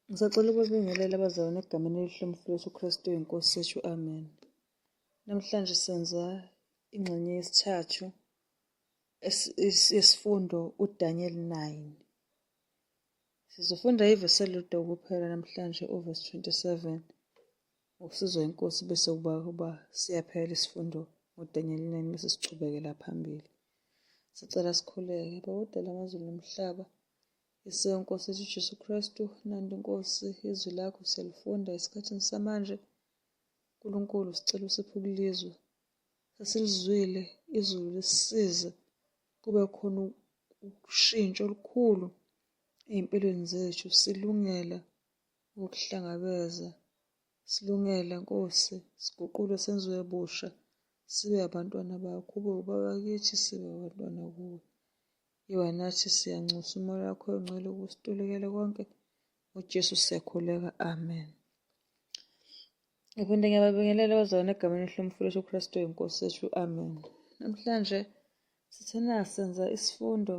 Ngisacela ukubingelela abazalwane egameni elihle umfo wethu uKristu inkosi yethu amen. Namhlanje senza ingxenye yesithathu yesifundo uDaniel 9. Sizofunda ivesi elilodwa kuphela namhlanje uvesi 27 ngokusizwa inkosi bese kuba kuba siyaphela isifundo ngoDaniel 9 bese sichubekela phambili. Sicela sikhuleke. Bawudala amazulu nomhlaba. IseNkosi yethu uJesu Kristu, nanti Nkosi izwi lakho siyalifunda esikhathini samanje. Nkulunkulu sicela usiphe ukulizwa. Sesilizwile izulu lisize kube khona ukushintsha olukhulu ey'mpilweni zethu silungela ukuhlangabeza silungela Nkosi siguqule senziwe busha sibe abantwana bakho ube ubabakithi sibe abantwana kuwe. Yiwa nathi siyanxusa umoya wakho oyingcwele ukusitulukele konke uJesu siyakhuleka amen Ngiphinde ngiyababingelela abazalwane egameni elihlomfulo uKristu oyinkosi yethu amen Namhlanje sithena senza isifundo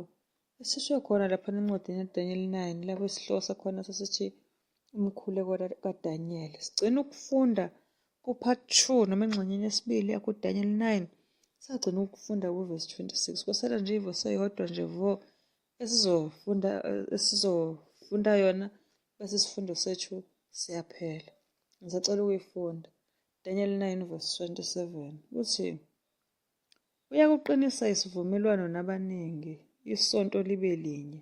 esisho khona lapha encwadini yeDaniel 9 lapho isihloko sakhona sasithi umkhuleko kaDaniyeli. Sigcina ukufunda kuPart 2 noma engxenyeni yesibili yakuDaniyeli 9 sagcina ukufunda kuvesi 26 kwasala nje ivesi eyodwa nje vo esizofunda esizofunda yona bese isifundo sethu siyaphela ngisacela ukuyifunda Daniel 9 verse 27 uthi uyakuqinisa isivumelwano nabaningi isonto libe linye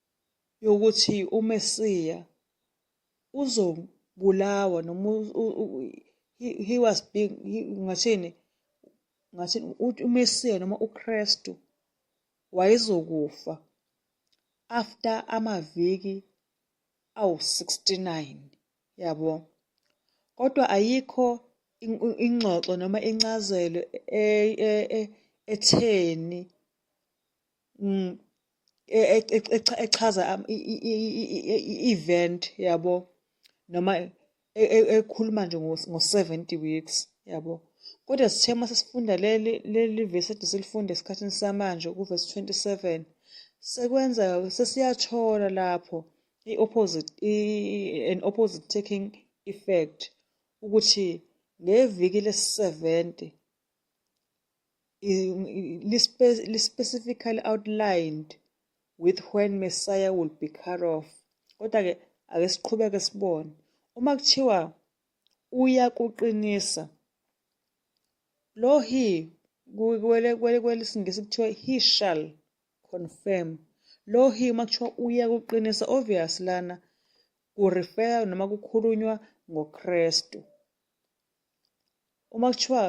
yokuthi uMesiya uzobulawa noma he was being ngathini ngathi uMesiya noma uKristu wayezokufa after amaviki awu-69 yabo kodwa ayikho ingxoxo noma incazelo e, e, e, etheni mm, e, e, e, echaza i-event yabo noma ekhuluma nje ngo-70 weeks yabo kodwa sithe uma sesifunda leli vesi ede silifunde esikhathini samanje kuvesi 27 sekwenza sesiyathola lapho i-opposite an opposite taking effect ukuthi ngeviki lesi-70 li-specifically outlined with when Messiah will be cut off. Kodwa-ke ake siqhubeke sibone. Uma kuthiwa uyakuqinisa, lo he kwelesingisi kuthiwa he shall confirm. Lo he uma kuthiwa uyakuqinisa, obvious lana kurefeya noma kukhulunywa ngoKristu. Uma kuthiwa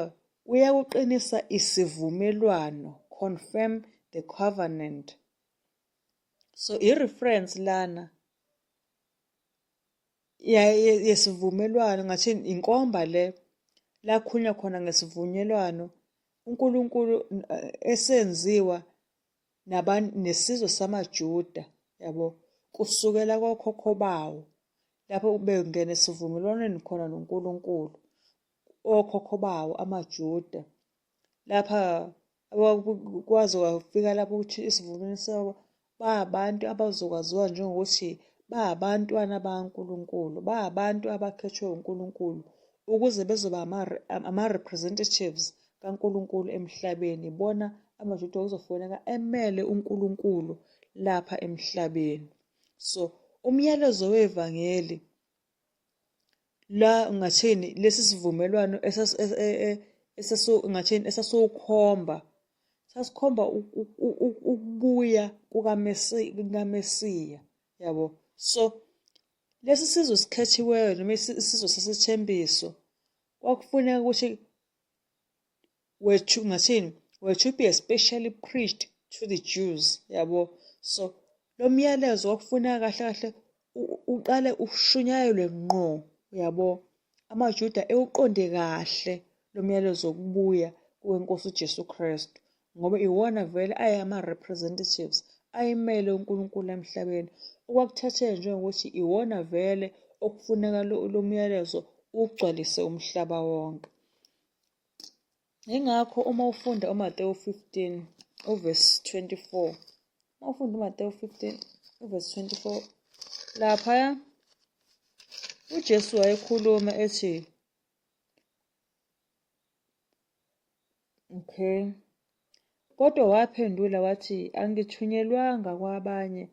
uyakuqinisa isivumelwano, confirm the covenant. So i-reference lana yesivumelwano ngathi inkomba le lakhunywa khona ngesivunyelwano uNkulunkulu eh, esenziwa naban nesizwe samaJuda yabo kusukela kokhokho bawo lapho bengena esivumelwaneni khona noNkulunkulu okhokho bawo amaJuda lapha kwaze kwafika lapho ukuthi isivumelwano sabo bayabantu abazokwaziwa njengokuthi bayabantwana bakaNkulunkulu bayabantu abakhethwe uNkulunkulu ukuze bezoba ama-representatives kaNkulunkulu emhlabeni bona amaJuda okuzofoneka emele uNkulunkulu lapha emhlabeni so umyalezo wevangeli la ngathini lesi sivumelwano e, e, esasu ngathini esasukhomba sasikhomba ukubuya kukaMesiya yabo so Lesi sizwe esikhethiweyo noma isizwe sesithembiso kwakufuneka ukuthi wethu ngathini wethu be especially preached to the Jews yabo so lo myalezo wakufuneka kahle kahle uqale ushunyayelwe ngqo yabo amaJuda ewuqonde kahle lo myalezo wokubuya kwenkosi uJesu Kristu ngoba iwona vele ayama-representatives ayimele uNkulunkulu emhlabeni okwakuthathele njengokuthi iwona vele okufuneka lo myalezo ugcwalise umhlaba wonke yingakho uma ufunda uMatewu 15 uvesi 24 uma ufunda uMatewu 15 uvesi 24 laphaya uJesu wayekhuluma ethi Okay. Kodwa waphendula wathi, Angithunyelwanga kwabanye,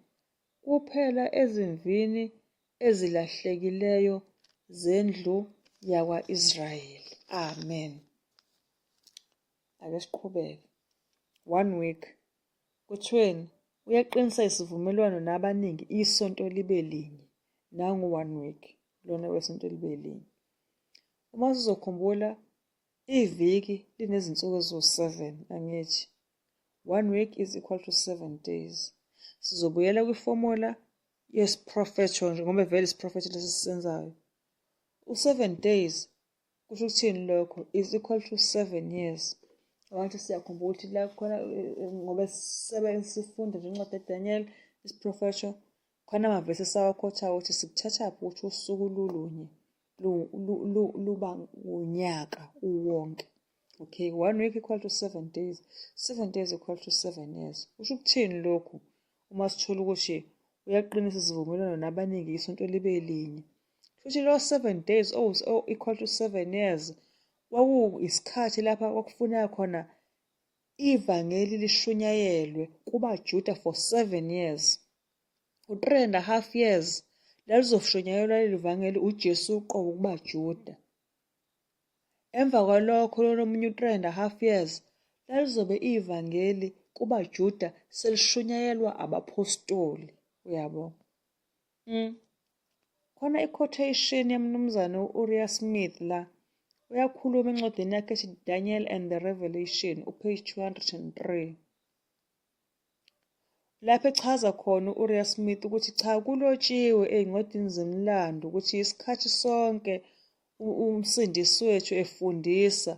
kuphela ezimvini ezilahlekileyo zendlu yakwa-Israyeli. Amen. Ake siqhubeke. One week. Kuthiweni? Uyaqinisa isivumelwano nabaningi isonto libe linye. Nangu one week lona wesonto libe linye. Uma sizokhumbula iviki linezinsuku eziwu-7 angithi? One week is equal to seven days. Sizobuyela kwifomola yesiprofetho nje ngoba vele isiprofetho lesi sisenzayo. U-seven days kusho ukuthini lokho is equal to seven years. Abantu siyakhumbula ukuthi la khona eh, eh, ngoba sisebenzisa sifunda nje incwadi yaDaniel isiprofetho Khona amavesi esawakhotha ukuthi sikuthatha phi ukuthi usuku lulunye luba unyaka uwonke. Okay, one week equal to seven days, seven days equal to seven years. Kusho ukuthini lokhu? Uma sithola ukuthi uyaqinisa isivumelwano nabaningi isonto libe linye. Futhi lo seven days oh, oh equal to seven years kwaku isikhathi lapha kwakufuneka khona ivangeli lishunyayelwe kubaJuda for seven years. u-three and a half years lalizoshonyayelwa leli vangeli ujesu uqobo kubajuda emva kwalokho lona omunye u-three and a half years lalizobe ivangeli kubajuda selishunyayelwa abaphostoli uyabo mm. khona i-quotation yamnumzane u-uriah smith la uyakhuluma encwadini yakhe ethi daniel and the revelation upage 203 lapho echaza khona u-Uriah Smith ukuthi cha kulotshiwe ey'ncwadini zemlando ukuthi isikhathi sonke umsindisi wethu efundisa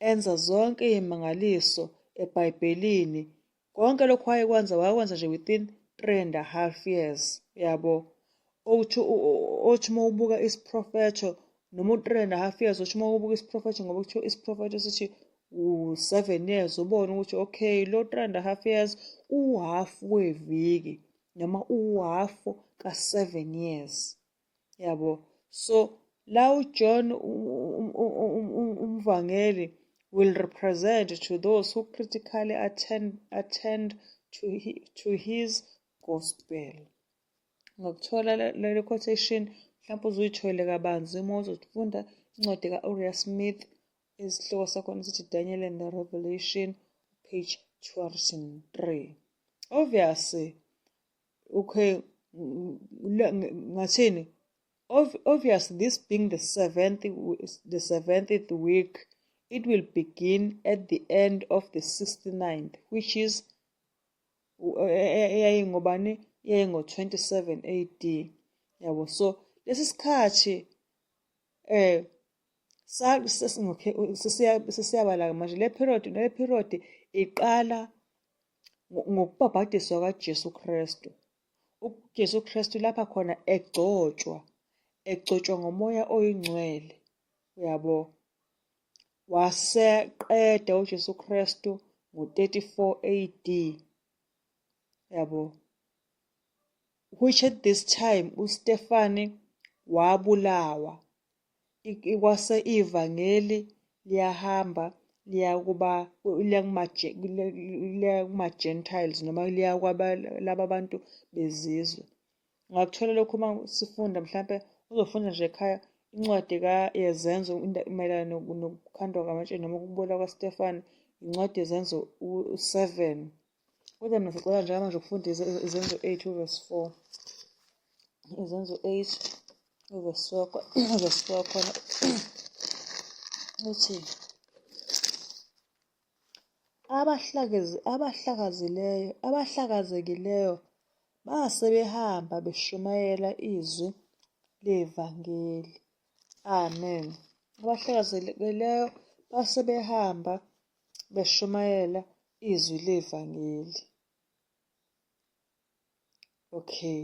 enza zonke iy'mangaliso ebhayibhelini konke lokhu wayekwenza wakwenza nje within three and a half years yabo Othi othi uma ubuka isiprofetho noma u-three and a half years othi uma ubuka isiprofetho ngoba kuthiwa isiprofetho sithi u-seven years ubone ukuthi okay lo three and a half years uwuhaf weviki noma uwuhaf ka-seven years yabo so la ujohn umvangeli um, um, um, will represent to those who critically attend, attend to, to his gospel. ngokuthola leli quotation mhlawumpe uzuyithole kabanzi uma uzofunda incwadi ka-uria smith esihloko sakhona sithi daniel and the revelation page 203 obviously okay ngathini obviously this being the seventh the seventh week it will begin at the end of the 69th which is eyayingobani yayingo-27 AD yabo so lesi sikhathi eh sesiyabala-ke manje le period le period iqala ngokubhabhadiswa kaJesu Kristu uJesu Kristu lapha khona egcotshwa egcotshwa ngomoya oyingcwele uyabo waseqeda uJesu Kristu ngo-34 AD yabo which at this time uStefani wabulawa kwase ivangeli liyahamba liya kuba liya kuma-gentiles noma liya laba bantu bezizwe Ngakuthola lokhu uma sifunda mhlampe uzofunda nje ekhaya incwadi yezenzo mayelana nokukhandwa kwamatshe noma ukubola kwaStefani incwadi yezenzo u-seven kodwa mina sicela njengamanje ukufunda izenzo eight uvesi four izenzo eight uvesi four khona uthi abahlakazileyo abahlakazekileyo base behamba beshumayela izwi levangeli amen abahlakazekileyo base behamba beshumayela izwi levangeli okay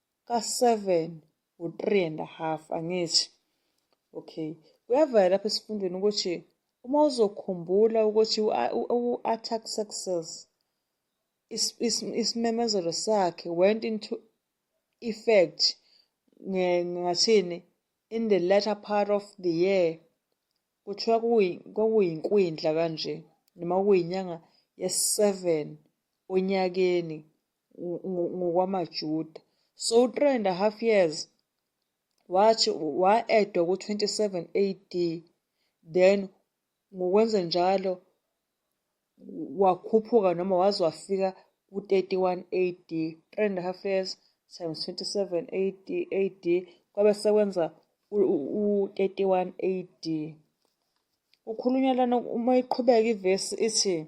ka-seven u-three and a half angithi okay kuyavela lapha esifundweni ukuthi uma uzokhumbula ukuthi u-artaxerxes isimemezelo sakhe went into effect ngathini in the latter part of the year kuthiwa kwakuyinkwindla kanje noma kuyinyanga yesi-seven onyakeni ngokwamaJuda. So u-three and a half years wathi wa-edwa ku-27 AD then ngokwenze njalo wakhuphuka noma waze wafika ku-31 AD 3 and a half years times 27 AD AD kwabe sekwenza u-31 AD ukhulunywa lana uma iqhubeka ivesi ithi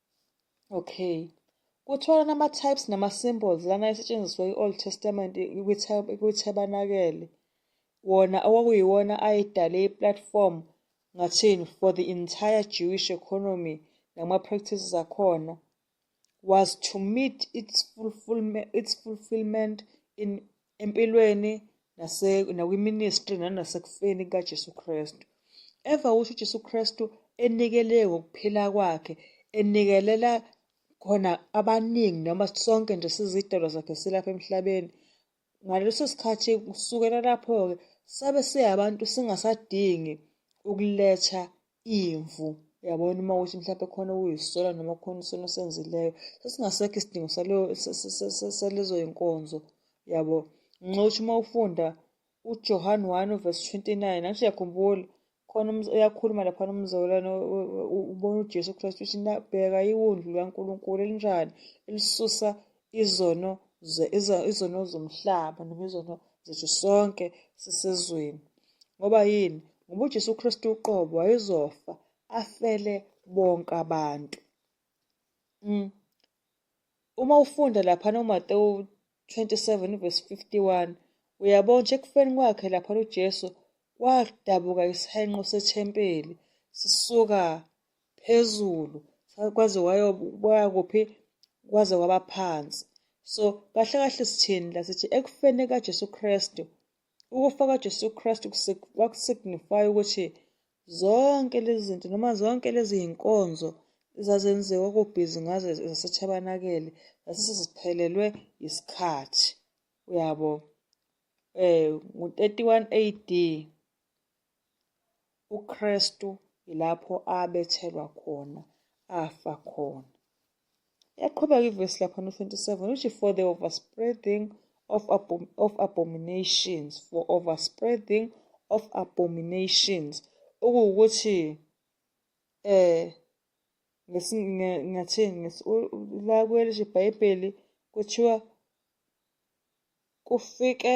Okay. Kuthiwa nama-types nama-symbols lana esetshenziswa i-Old Testament kwiThabanakele wona okwakuyiwona ayedale i-platform ngathini for the entire Jewish economy nama-practices akhona was to meet its, fulfillment, its fulfillment in empilweni nase nakwiministry nanasekufeni kaJesu Kristu. Eva usho uJesu Kristu enikele ngokuphila kwakhe enikelela khona abaningi noma sonke nje sizidalwa zakhe silapha emhlabeni. Ngaleso sikhathi kusukela lapho-ke sabe siyabantu singasadingi ukuletha imvu uyabona uma ukuthi mhlawumbe khona uyisola noma khona isono senzileyo sesingasekho isidingo salezo yinkonzo yabo nxa ukuthi uma ufunda ujohan 1 verse 29 nathi uyakhumbula khona uyakhuluma laphana umzalwane ubona ujesu kristu ukuthi bheka iwundlu likankulunkulu elinjani elisusa izono izono zomhlaba noma izono zethu sonke sisezweni ngoba yini ngoba uJesu Kristu uqobo wayezofa afele bonke abantu mm. uma ufunda lapha noMatewu 27 verse 51 uyabona nje ekufeni kwakhe lapha uJesu wadabuka isihenqo sethempeli sisuka phezulu kwaze wayoboya kuphi kwaze kwaba phansi so kahle kahle sithini la sithi ekufeni kaJesu Kristu ukufa kaJesu Kristu kwakusignify ukuthi zonke lezi zinto noma zonke lezi zinkonzo ezazenziwa kubhizi ngazo zasethabanakele zasesiziphelelwe isikhathi uyabo eh ngo-31 AD UKristu yilapho abethelwa khona, afa khona. Yaqhubeka ivesi lapha no 27 uthi for the overspreading of, abom of abominations for overspreading of abominations okuwukuthi eh ngathini la kwelithi ibhayibheli kuthiwa kufike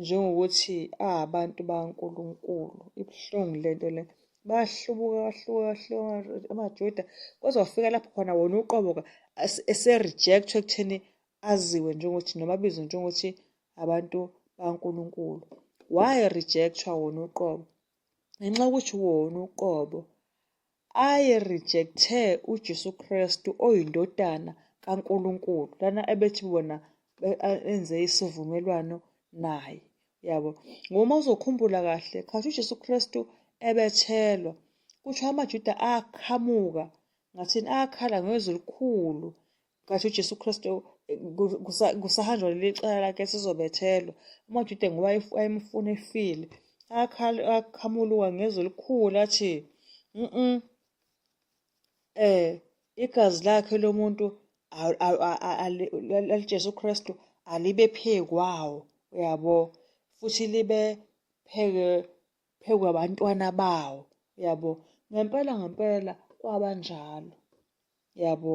njengokuthi abantu baNkulunkulu ibuhlungu lento le bahlubuka bahluka bahluka amaJuda kwaze wafika lapho khona wona uqoboka ese-rejectwa ekutheni aziwe njengokuthi noma abizwe njengokuthi abantu baNkulunkulu why rejectwa wona uqobo ngenxa yokuthi wona uqobo aye rejecte uJesu Kristu oyindodana kaNkulunkulu lana ebethi bona enze isivumelwano naye yabo ngoma uzokhumbula kahle khathi uJesu Kristu ebethelwa kuthiwa amaJuda aqhamuka ngathini akhala ngezwi elikhulu kathi uJesu Kristu eh, kusahanjwa leli cala lakhe sizobethelwa amaJuda ngoba ayemfuna efile akhamuluka ngezwi elikhulu athi mm eh igazi lakhe lomuntu laliJesu Kristu alibe phekwawo uyabo futhi libe pheke phekwe abantwana bawo uyabo ngempela ngempela kwabanjalo yabo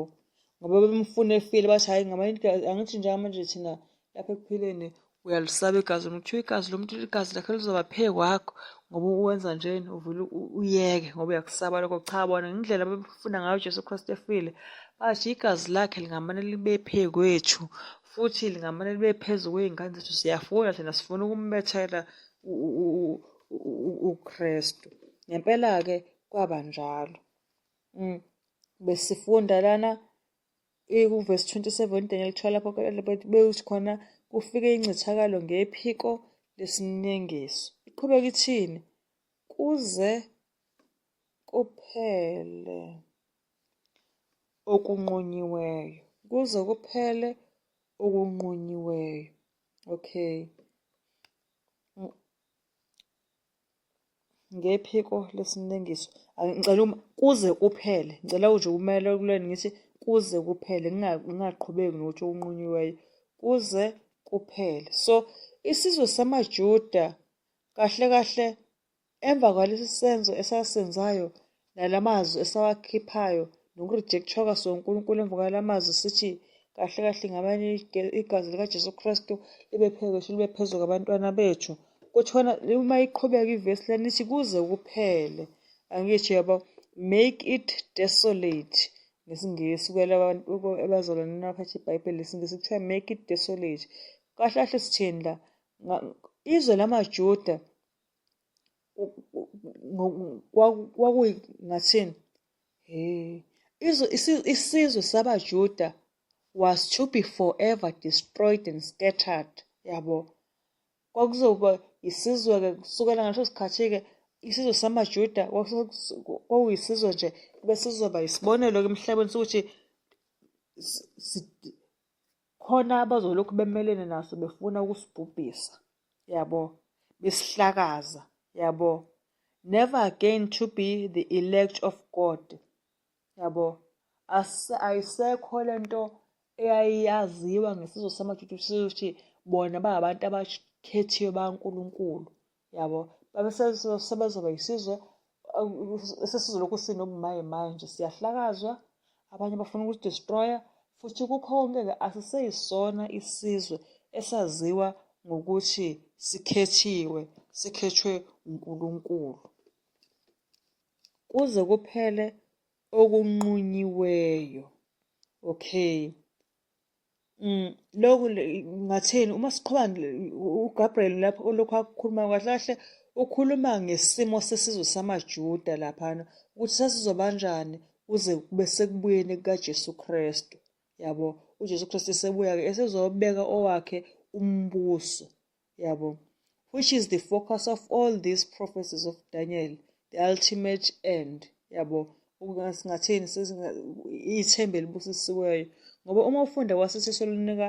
ngoba bemfuna efile bathi hhayi ngaba angithi njengamanje thina lapha ekuphileni uyalisaba igazi lomuntu kuthiwa igazi lomuntu igazi lakhe lizoba phe kwakho ngoba uwenza njena uvele uyeke ngoba uyakusaba lokho cha bona ngendlela abefuna ngayo ujesu kristu efile bathi igazi lakhe lingamane libe phe kwethu futhi lingamane libe phezu kwey'ngane zethu siyafuna thina sifuna ukumbethela ukristu ngempela-ke kwaba njalo Mm. Besifunda lana ikuverse 27 Daniel 12 lapho bewuthi khona kufike incithakalo ngephiko lesinengiso. Iqhubeka ithini? Kuze kuphele okunqunyiweyo. Kuze kuphele okunqunyiweyo. Okay. ngephiko lesimlengiso ngicela uma kuze kuphele ngicela uje kumele kuleni ngithi kuze kuphele ngingaqhubeki nokuthi okunqunyiweyo kuze kuphele so isizwe samajuda kahle kahle emva kwalesi senzo esasenzayo nala mazwi esawakhiphayo nokurejectshwa kwaso uNkulunkulu emva kwala mazwi sithi kahle kahle ngabani igazi likaJesu Kristu libe phezulu libe phezulu kwabantwana bethu kuthiwana uma iqhubeka ivesi lanithi kuze kuphele angisho yabo make it desolate ngesingisi kwelabazalwane nabaphatha ibhayibheli lesingisi kuthiwa make it desolate kahle kahle sithini la izwe lamajuda kwakungathini hey isizwe sabaJuda was to be forever destroyed and scattered yabo kwakuzoba isizwe-ke kusukela ngaleso sikhathi-ke isizwe samaJuda kwakuyisizwe nje besizoba yisibonelo-ke emhlabeni sokuthi khona abazolokhu bemelene naso befuna ukusibhubhisa yabo besihlakaza yabo never again to be the elect of god yabo ayisekho lento eyayaziwa ngesizwe samajuda ukuthi bona bahabantu abakhethiwe baNkulunkulu yabo babe sebazoba yisizwe sesizolokhu sinobumaye maye nje siyahlakazwa abanye bafuna ukusdestroya futhi kukhonke-ke asiseyisona isizwe esaziwa ngokuthi sikhethiwe sikhethwe uNkulunkulu kuze kuphele okunqunyiweyo okay Mm, lokhu ngathini uma siqhuba uGabriel lapho olokhu akukhuluma kahle kahle ukhuluma ngesimo sesizwe samaJuda laphana ukuthi sasizobanjani kuze kube sekubuyeni kukaJesu Kristu yabo uJesu Kristu esebuya-ke esezobeka owakhe umbuso yabo which is the focus of all these prophecies of Daniel the ultimate end yabo singathini ithemba elibusisiweyo ngoba uma ufunda kwasisiso lunika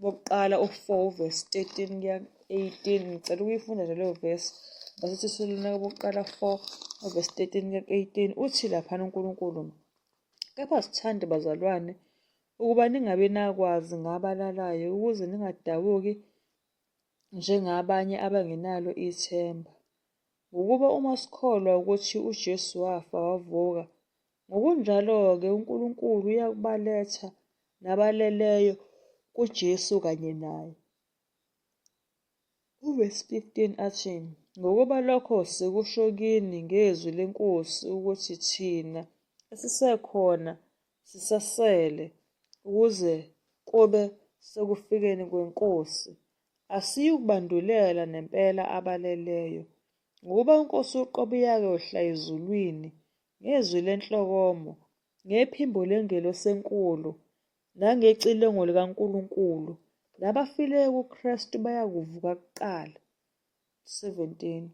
bokuqala u-4 verse 13 kuya 18 ngicela ukuyifunda nje leyo verse basithi silunaka bokuqala 4 verse 13 kuya 18 uthi laphana uNkulunkulu kepha sithande bazalwane ukuba ningabe nakwazi ngabalalayo ukuze ningadabuki njengabanye abangenalo ithemba. Ngokuba uma sikholwa ukuthi uJesu wafa wavuka, ngokunjalo-ke uNkulunkulu uyakubaletha nabaleleyo kuJesu kanye naye. Uvesi 15 athi, Ngokuba lokho sikusho kini ngezwi lenkosi ukuthi thina esisekhona sisasele ukuze kube sekufikeni kwenkosi asiyukubandulela nempela abaleleyo ngokuba uNkosi uqobo uyake wehla ezulwini ngezwi lenhlokomo ngephimbo lengelosi enkulu nangecilongo likaNkulunkulu nabafileyo kuKristu bayakuvuka kuqala 17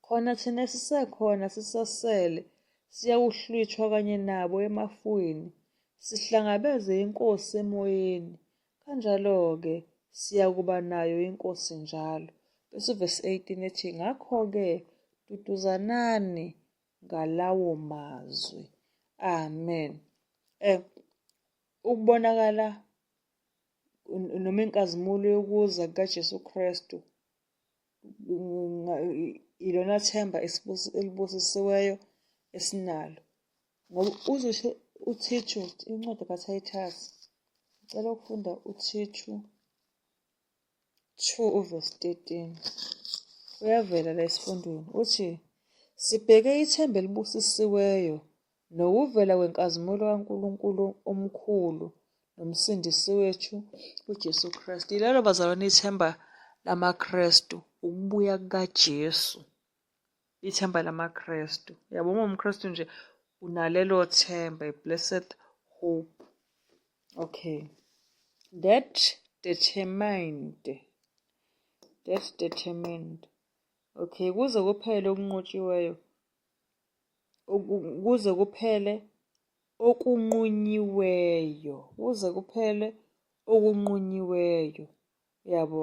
khona thina sisekhona sisasele siyawuhlwithwa kanye nabo emafwini sihlangabeze inkosi emoyeni kanjalo-ke siyakuba nayo inkosi njalo bese uvesi 18 ethi ngakho-ke duduzanani ngalawo mazwi. Amen. Eh ukubonakala noma inkazimulo yokuza kukaJesu Kristu ilona themba elibusisiweyo esinalo ngoba uzosho uthishu incwadi kaThayithasi ngicela ukufunda uthishu 2 uvesi 13 kuyavela la esifundweni uthi sibheke ithemba elibusisiweyo nokuvela kwenkazimulo kaNkulunkulu omkhulu nomsindisi wethu uJesu Kristu. Yilelo bazalwane ithemba lamaKristu, ukubuya kukaJesu. ithemba lamaKristu yabo uma umKristu nje unalelo themba blessed hope okay that determined that determined okay kuze kuphele okunqotshiweyo kuze kuphele okunqunyiweyo kuze kuphele okunqunyiweyo yabo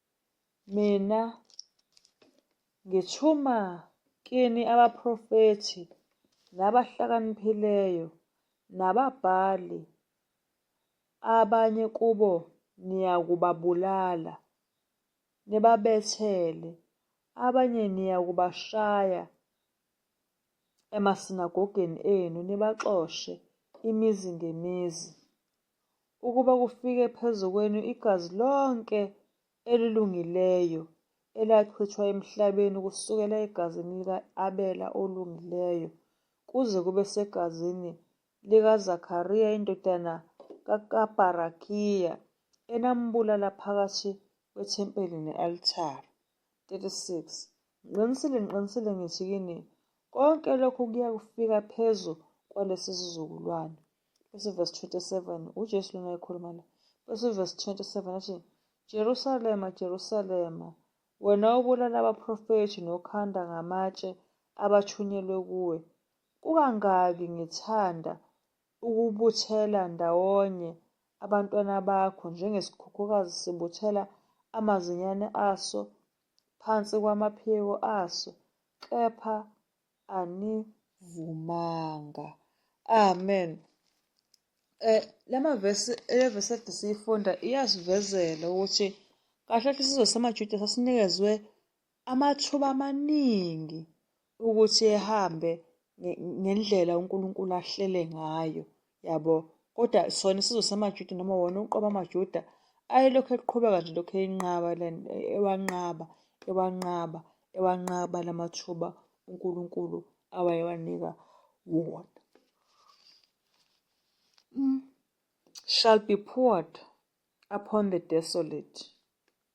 Mina ngithuma kini abaprofethi nabahlakaniphileyo nababhali, abanye kubo niyakubabulala, nibabethele, abanye niyakubashaya emasinagogeni enu, nibaxoshe imizi ngemizi. ukuba kufike phezu kwenu igazi lonke elilungileyo elachithwa emhlabeni kusukela egazini lika-abela olungileyo kuze kube segazini likaZakariya indodana kaKabarakiya enambulala phakathi kwethempeli ne-altare. 36 Ngiqinisile ngiqinisile ngithi kini, konke lokhu kuya kufika phezu kwalesi sizukulwane. bese verse 27 uJesu lona ekhuluma la bese verse 27 athi Jerusalema Jerusalema wena obulala abaprofethi nokhanda ngamatshe abathunyelwe kuwe kukangaki ngithanda ukubuthela ndawonye abantwana bakho njengesikhukhukazi sibuthela amazinyane aso phansi kwamaphiko aso kepha anivumanga amen eh lama verse le verse ethi siyifunda iyasivezela ukuthi kahle kahle sizwe samaJuda sasinikezwe amathuba amaningi ukuthi ehambe ngendlela uNkulunkulu ahlele ngayo yabo kodwa sona isizwe samajuda noma wona uqoba amajuda ayelokhu eqhubeka nje lokhu eyinqaba ewanqaba ewanqaba ewanqaba la mathuba unkulunkulu awayewanika wona mm. shall be poured upon the desolate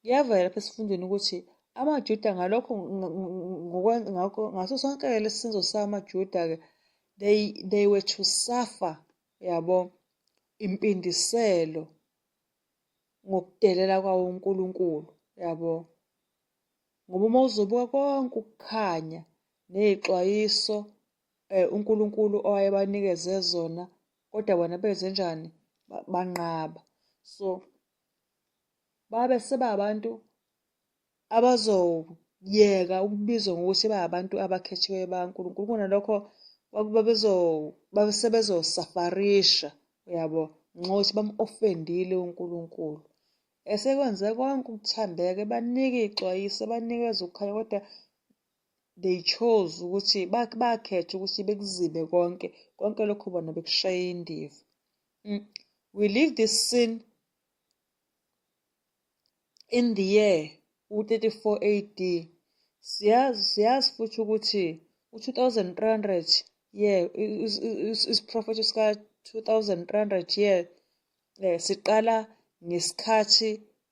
Kuyavela lapha esifundweni ukuthi amaJuda ngalokho ngaso sonke-ke lesi senzo samaJuda-ke they, they were to suffer yabo impindiselo ngokudelela kwawo uNkulunkulu yabo ngoba uma uzobuka konke ukukhanya nezixwayiso eh uNkulunkulu owayebanikeze zona kodwa bona benze njani banqaba so babe sebabantu abazoyeka ukubizwa ngokuthi babantu abakhethiwe baNkulunkulu kunalokho babezo babe sebezosafarisha uyabo ngenxa yokuthi bamu-ofendile uNkulunkulu esekwenze konke ukuthambeka ebanika ixwayiso ebanikeza ukukhanya kodwa they chose ukuthi bakhethe ukuthi bekuzibe konke konke lokho bona bekushaya indiva Mm. We leave the scene in the year u-34 AD. Siyazi siyazi futhi ukuthi u-2300 year isiprofetho sika-2300 year eh siqala ngesikhathi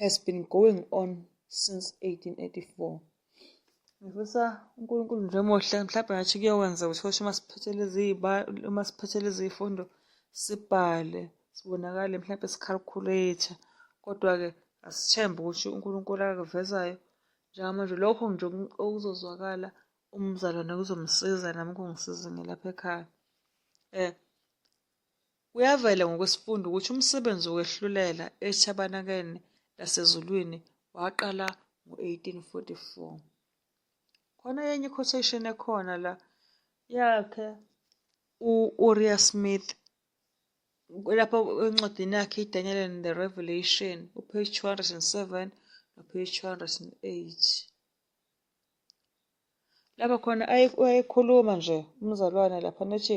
has been going on since 1884 ngifisa uNkulunkulu nje omuhle mhlawumbe ngathi kuyokwenza ukuthi kusho uma siphethe lezi uma siphethe lezi zifundo sibhale sibonakale mhlawumbe sikhalkhuletha kodwa-ke asithembe ukuthi uNkulunkulu akakuvezayo njengamanje lokho nje okuzozwakala umzalwane kuzomsiza nami kungisize ngilapha ekhaya um Kuyavela ngokwesifundo ukuthi umsebenzi wokwehlulela ethabanakeni lasezulwini waqala ngo-1844. Khona enye quotation ekhona la yakhe u-Uriah Smith lapho encwadini yakhe i-Daniel and the Revelation upage 207 nopage 208 lapha khona ayekhuluma nje umzalwane lapha nethi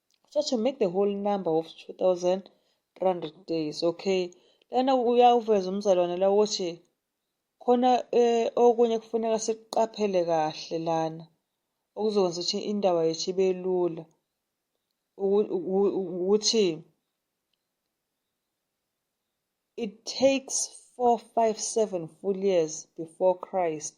so to make the whole number of 2300 days okay lana uyawuveza umzalwane la ukuthi khona eh, okunye kufuneka siqaphele kahle lana okuzokwenza ukuthi indaba yethu ibe lula ukuthi it takes 457 full years before Christ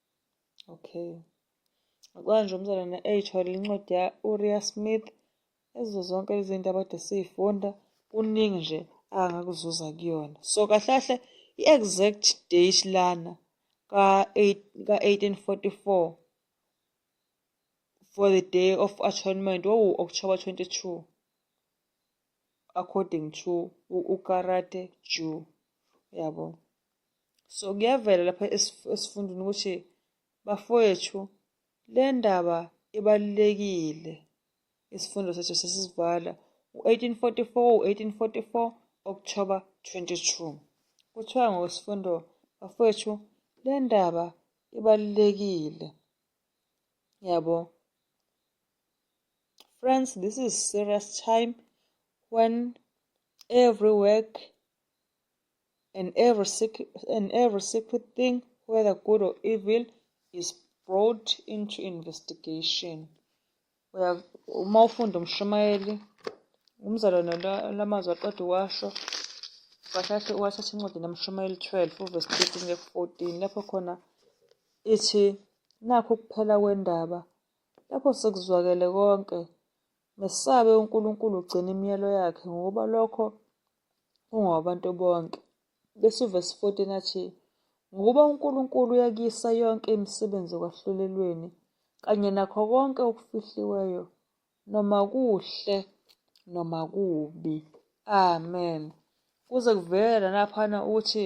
Okay. Kwanje umzalwane eyithole incwadi ya-Uriya Smith ezo zonke lezi zinto abade siyifunda kuningi nje angakuzuza kuyona. So kahle kahle i-exact date lana ka-1844 for the day of atonement wawuwu-October 22. according to ukarate ju uyabo so kuyavela lapha esifundweni ukuthi bafowethu le ndaba ibalulekile isifundo sethu sesivala u-1844 u-1844 October 22 kuthiwa ngosifundo bafowethu le ndaba ibalulekile yabo Friends, this is serious time when every work and every secret, and every secret thing, whether good or evil, is brought into investigation. Uma ufunda umshumayeli umzalwane lamazwi aqeda uwasho wathatha wathatha incwadi namshumayeli 12 uvesi 13 14 lapho khona ithi nakho ukuphela kwendaba Lapho sekuzwakele konke, mesabe uNkulunkulu ugcina imiyalo yakhe ngokuba lokho kungowabantu bonke. Bese uvesi 14 athi, Ngokuba uNkulunkulu uyakisa yonke imisebenzi ekwahlulelweni kanye nakho konke okufihliweyo, noma kuhle noma kubi. Amen. Kuze kuvele lanaphana ukuthi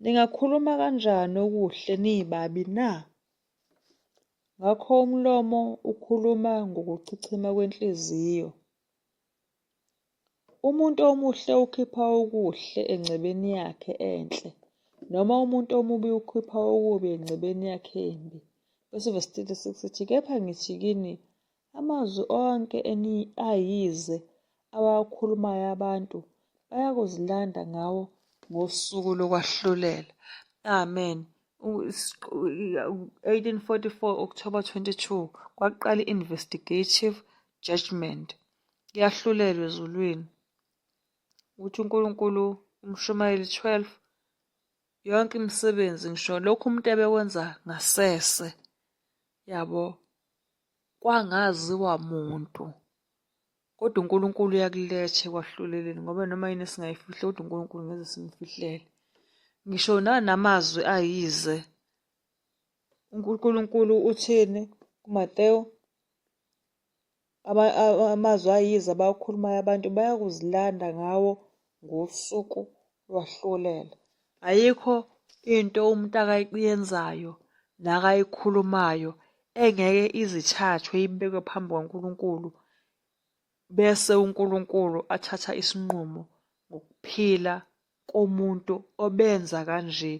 Ningakhuluma kanjani okuhle niyibabi na? Ngakho umlomo ukhuluma ngokuchichima kwenhliziyo. Umuntu omuhle ukhipha okuhle engcebeni yakhe enhle, noma umuntu omubi ukhipha okubi engcebeni yakhe embi. Bese ivesi 36 sithi, Kepha ngithi kini, Amazwi onke eniayize abawakhulumayo abantu bayakuzilanda ngawo ngosuku lokwahlulela. Amen. 1844 October 22 kwaqala investigative judgment. Yahlulelwe ezulwini. Uthi uNkulunkulu umshumayeli 12 yonke imisebenzi ngisho lokhu umuntu ebekwenza ngasese yabo Kwangaziwa muntu. Kodwa uNkulunkulu uyakuletha ekwahluleleni ngoba noma yini esingayifihle kodwa uNkulunkulu ngeze simfihlele. Ngisho nanamazwi ayize. UNkulunkulu uthini kuMateyu? Amazwi ayize abawakhulumayo abantu bayakuzilanda ngawo ngosuku lwahlulela. Ayikho into umuntu akayenzayo nakayikhulumayo engeke izithathwe ibekwe phambi kwaNkulunkulu bese uNkulunkulu athatha isinqumo ngokuphila komuntu obenza kanje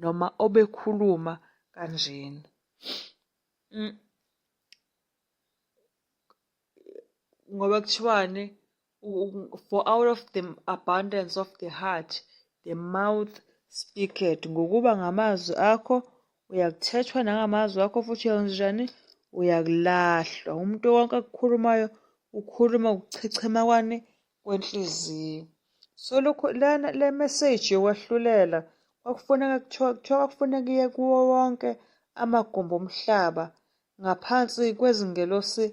noma obekhuluma kanjena. Mm. ngoba kuthiwani for out of the abundance of the heart the mouth speaketh ngokuba ngamazwi akho uyakuthethwa nangamazwi akho futhi uyawenzenjani uyakulahlwa umuntu wonke akukhulumayo ukhuluma ukuchechema kwani kwenhliziyo so lokho lana le message yokwahlulela kwakufuneka kuthiwa kuthiwa kwakufuneka iye kuwo wonke amagumbi omhlaba ngaphansi kwezingelosi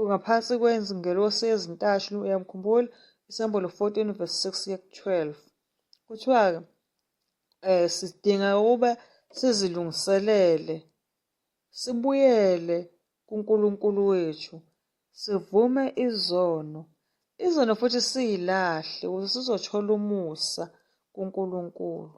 ngaphansi kwezingelosi ezintathu uyamkhumbula isembolo 14 verse 6 ye 12 kuthiwa-ke eh sidinga ukuba sizilungiselele sibuyele kuNkulunkulu wethu sivume izono izono futhi siyilahle ukuze sizothola umusa kuNkulunkulu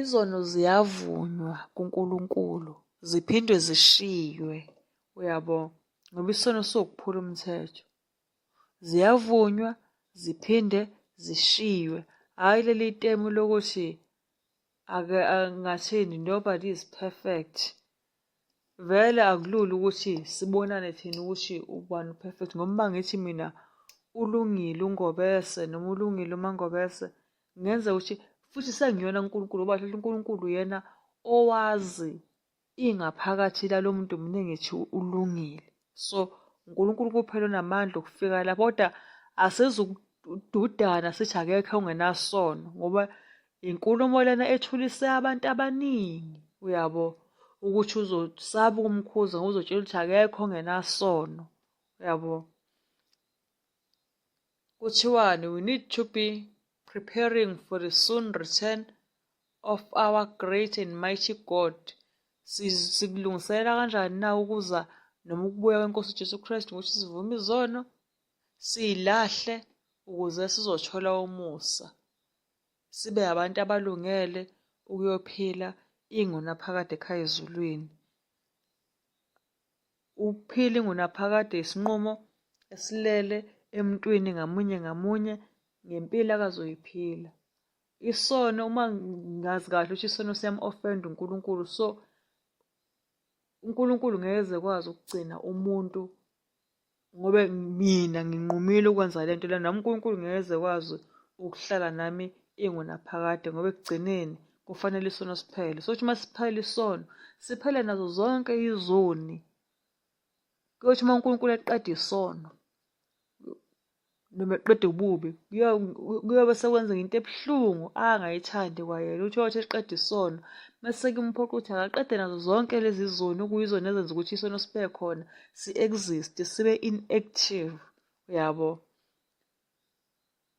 Izono ziyavunywa kuNkulunkulu ziphinde zishiywe. Uyabo? Ngoba isono siwukuphula umthetho. Ziyavunywa ziphinde zishiywe. Hhayi leli temu lokuthi ake angathini nobody is perfect. Vele akulula ukuthi sibonane thina ukuthi ubani u-perfect ngoba uma ngithi mina ulungile uNgobese noma ulungile uMaNgobese ngenza ukuthi futhi sengiyona uNkulunkulu ngoba hlala uNkulunkulu yena owazi ingaphakathi lalo muntu mina ngithi ulungile. so uNkulunkulu kuphela onamandla okufika lapho kodwa asizukududana sithi akekho ongenasono ngoba inkulumo lena ethulise abantu abaningi uyabo ukuthi uzosaba ukumkhuza ngoba uzotshela ukuthi akekho ongenasono uyabo Kuthiwani, we need to be preparing for the soon return of our great and mighty God. Sikulungiselela kanjani na ukuza noma ukubuya kweNkosi Jesu Kristu ngokuthi sivume izono, siyilahle ukuze sizothola umusa. Sibe abantu abalungele ukuyophila ingunaphakade ekhaya ezulwini. Ukuphila ingunaphakade isinqumo esilele emntwini ngamunye ngamunye ngempilo akazoyiphila. Isono uma ngazi kahle ukuthi isono siyam-offend uNkulunkulu so uNkulunkulu ngeke ekwazi ukugcina umuntu ngoba mina nginqumile ukwenza le nto lena nami unkulunkulu ngeze kwazi ukuhlala nami ingunaphakade ngoba ekugcineni kufanele isono siphele so ukuthi uma siphele isono siphele nazo zonke izoni kuyothi uma unkulunkulu eqeda isono noma eqeda ububi kuyobe sekwenzeka into ebuhlungu angayithandi kwayena uthi wathi eqeda isono mase kumphoqa ukuthi akaqede nazo zonke lezi zoni okuyizona ezenza ukuthi isono sibe khona si-exist sibe inactive uyabo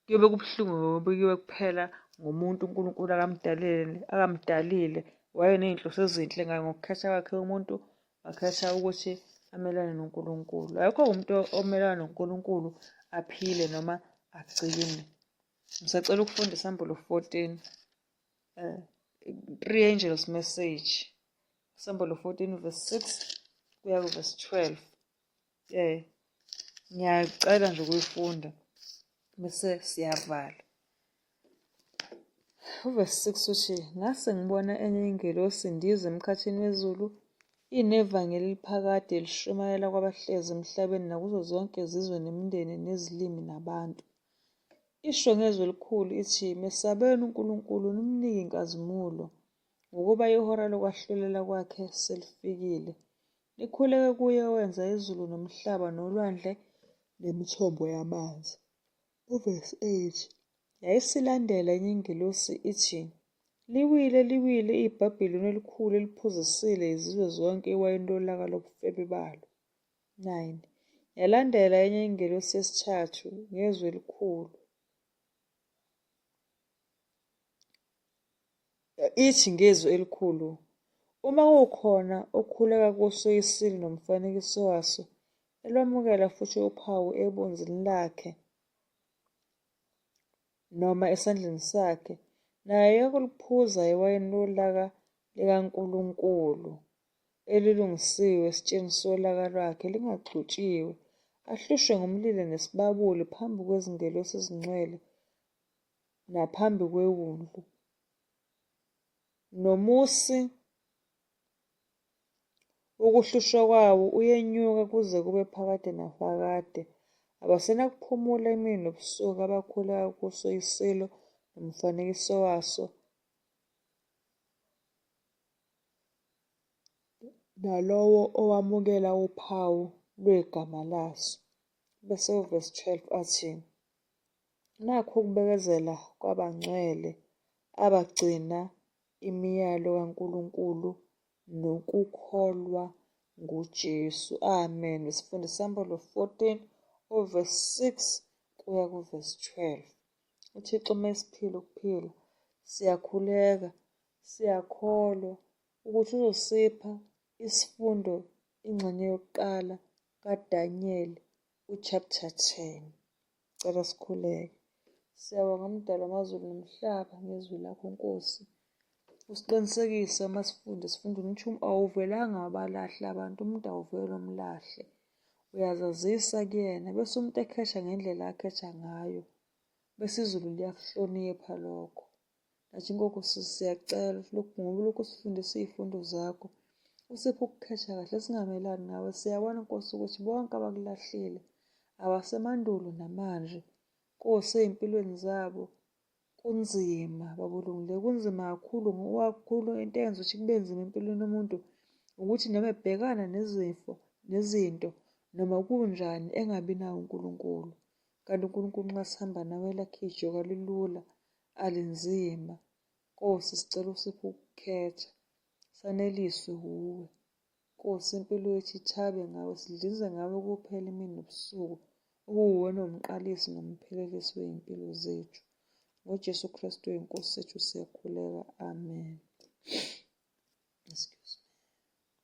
kuyobe kubuhlungu ngoba kuyobe kuphela ngomuntu unkulunkulu akamdalele akamdalile wayeney'nhloso ezinhle ngaye ngokukhetha kwakhe umuntu Wakhetha ukuthi amelane noNkulunkulu. Ayikho umuntu omelana noNkulunkulu aphile noma agcine. Ngisacela ukufunda isambulu 14. Eh, three angels message. Isambulu 14 verse 6 kuya ku verse 12. Eh ngiyacela nje ukuyifunda bese siyavala. Uvesi 6 uthi ngase ngibona enye ingelosi indiza emkhathini wezulu inevangeli eliphakade lishumayela kwabahlezi emhlabeni nakuzo zonke izizwe nemindeni nezilimi nabantu. Isho ngezwi elikhulu ithi, Mesabeni uNkulunkulu, nimnike inkazimulo. ngokuba ihora lokwahlulela kwakhe selifikile. Likhuleke kuye owenza izulu nomhlaba nolwandle nemithombo yamanzi. Uvesi 8 yayisilandela enye ingelosi ithi, Liwile, liwile iBhabhiloni elikhulu eliphuzisile izizwe zonke iwayini lolaka lobufebe balo. 9 yalandela enye ingelosi yesithathu ngezwi elikhulu. Ithi ngezwi elikhulu, Uma kukhona okhuleka kuso isilo nomfanekiso waso, elwamukela futhi uphawu ebunzini lakhe noma esandleni sakhe, naye uyakuliphuza iwayini lolaka likaNkulunkulu. elilungisiwe esitshenisa olaka lwakhe lingaxhutshiwe, ahlushwe ngumlilo nesibabuli phambi kwezingelosi ezingcwele naphambi kwewundlu. Nomusi ukuhlushwa kwawo uyenyuka kuze kube phakade nafakade. Abasenakuphumula imini nobusuku abakhula kuso isilo nomfanekiso waso. nalowo owamukela uphawu lwegama laso. Bese uvesi 12 athi, Nakhu ukubekezela kwabangcwele abagcina imiyalo kaNkulunkulu nokukholwa nguJesu. Amen. Isifunda isambolo 14 uvesi 6 kuya kuvesi 12. UThixo uma esiphila ukuphila siyakhuleka Siyakholwa ukuthi uzosipha isifundo ingxenye yokuqala kaDaniyeli uchapter 10. Cela sikhuleke. Siyabonga mdalo amazulu nomhlaba ngezwi lakho Nkosi. Usiqinisekise uma sifunde sifunde umthumu awuvelanga abalahle abantu umuntu awuvele umlahle. Uyazazisa kuyena bese umuntu ekhesha ngendlela akhetha ngayo. Bese izulu liyakuhlonipha lokho. Kanti inkoku sisi siyacela lokhu ngoba lokhu sifundisa iy'fundo zakho. Usiphe ukukhesha kahle singamelani ngawe. Siyabona Nkosi ukuthi bonke abakulahlile abasemandulo namanje. Nkosi ey'mpilweni zabo kunzima babulungile kunzima kakhulu kakhulu into eyenza ukuthi kube nzima empilweni yomuntu ukuthi noma ebhekana nezifo nezinto noma kunjani engabi nawo uNkulunkulu kanti uNkulunkulu nxa sihamba nawe elakhe ijoka lilula alinzima. Nkosi sicela usiphe ukukhetha. Saneliswe wuwe. Nkosi impilo yethu ithabe ngawe sidlinze ngawe kuphela imini nobusuku. Ukuwuwena umqalisi nomphelelisi wezimpilo zethu. NgoJesu Kristu weNkosi sethu siyakhuleka. Amen.